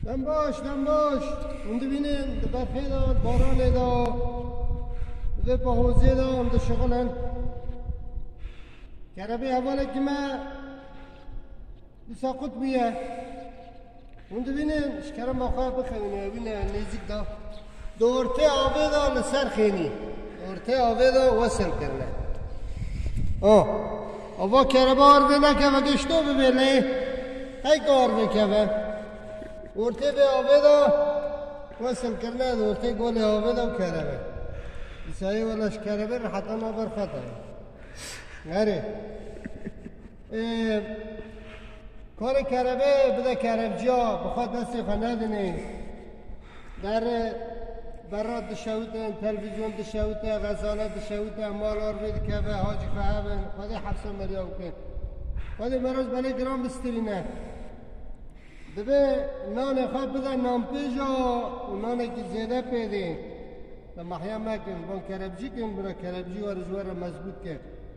Dem baş, dem baş. Hûn dibînin di berfê de, di baranê de, di vê pahozê de em dişixulin. Kerebê hevalekî me dîsa qut bûye. Hûn dibînin ji kerema xwe bixewîne wîne nêzîk de. Di ortê avê de li ser xênî. Ortê avê de wesil kirine. O. Ava kereba erdê nekeve gişto bibê lê heyka erdê keve. Ortê vê avê de wesil kirine di ortê golê avê de û kerebe. Îsayê weleş kerebe riheta naber xeta ye. Herê. Karê kerevê bide kerevciya bi xwe destê xwe nedinê. Der berra dişewite, televîzyon dişewite, xezane dişewite, mal arvê dikeve, hacî xwe hevin, xwedê hefsa meriya wike. Xwedê meroz belê giran bistirîne. Dibe nanê xwe bide nanpêja û nanekî zêde pêdê. Mahya mekin, van kerevcikin bira kerevcî were ji were mezbût ke.